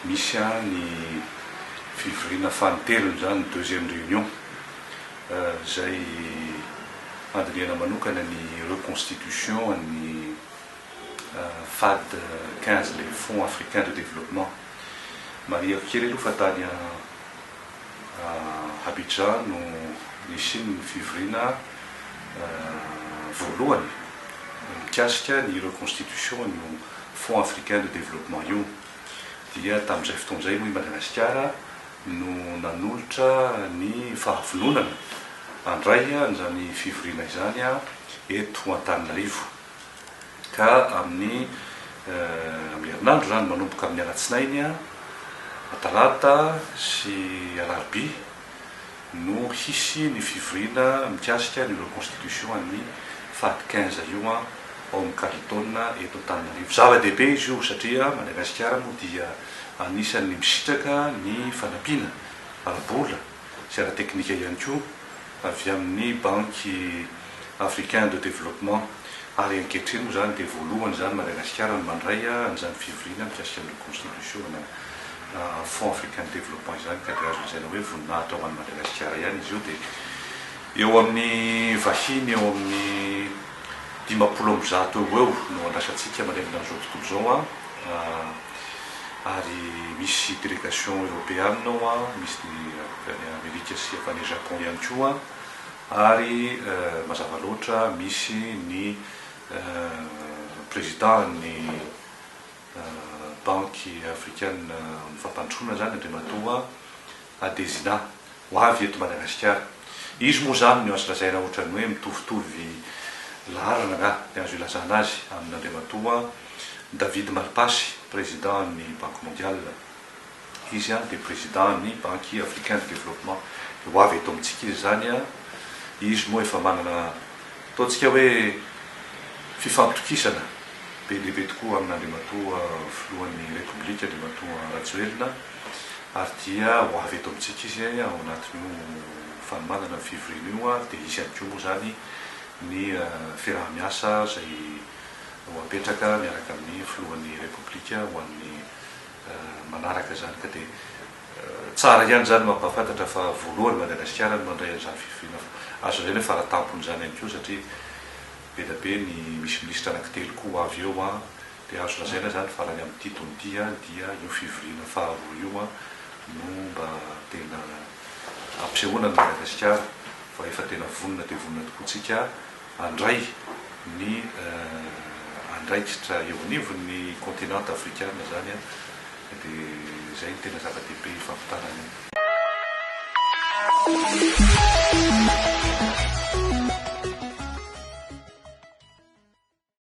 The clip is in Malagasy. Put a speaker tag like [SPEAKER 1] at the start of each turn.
[SPEAKER 1] Misy an ny fivoriana fanintelony izany, deuxième réunion, izay handinihana manokana ny reconstitution an'ny Fad quinze, le Fonds Africain de Développement. Marihiko kely aloha fa tany an. Abidjan no nisian'ny fivoriana voalohany mikasika ny reconstitution an'io Fonds africain de développement io dia tamin'izay fotoana izay hoy i Madagasikara no nanolotra ny fahavononana handray an'izany fivoriana izany eto Antananarivo. Ka amin'ny amin'ny herinandro izany, manomboka amin'ny alatsinainy, atalata sy alarobia no hisy ny fivoriana mikasika ny reconstitution an'ny fady quinze io ao amin'ny Carlton eto Antananarivo. Zava-dehibe izy io satria Madagasikara moa dia anisan'ny misitraka ny fanampiana ara-bola. sy ara-teknika ihany koa avy amin'ny Banque Africain de Développement ary ankehitriny moa izany dia voalohany izany Madagasikara no mandray an'izany fivoriana mikasika ny reconstitution-na Fonds Africain de Développement izany ka dia azo lazaina hoe voninahitra ho an'i Madagasikara ihany izy io dia eo amin'ny vahiny eo amin'ny dimampolo amby zato eo ho eo no andrasantsika manerana an'izao tontolo izao an, ary misy delegation eropeana ao an, misy ny avy any Amerika sy avy any Japon ihany koa an, ary mazava loatra misy ny président ny banky afrikana fampandrosoana izany Andriamatoa Adesina, ho avy eto Madagasikara. Izy moa izany no azo lazaina ohatran'ny hoe mitovitovy laharana angaha dia azo ilazana azy amin'Andriamatoa David Malpassy, Président ny Banque Mondiale. Izy dia Président ny Banque Africain de Développement. Dia ho avy eto amintsika izy izany. Izy moa efa manana, ataontsika hoe, fifampitokisana be dia be tokoa amin'Andriamatoa Filohan'ny Repoblika, Andriamatoa Rajoelina. Ary dia ho avy eto amintsika izy ao anatin'io fanomanana ny fivoriana io, ary dia hisy ihany koa moa izany ny fiaraha-miasa izay ho apetraka miaraka amin'ny filohan'ny Repoblika ho an'ny manaraka izany. Ka dia tsara ihany izany no hampahafantatra fa voalohany Madagasikara no mandray an'izany fivoriana fa azo lazaina hoe fara-tampon'izany ihany koa satria be dia be ny misy minisitra anankitelo koa ho avy eo. Dia azo lazaina izany fa raha ny amin'ity taona ity dia io fivoriana faharoa io no mba tena hampisehoana an'i Madagasikara fa efa tena vonona dia vonona tokoa tsika handray ny andraikitra eo anivon'ny kontinanta afrikana izany dia izay no tena zava-dehibe hifampitana any amin'ny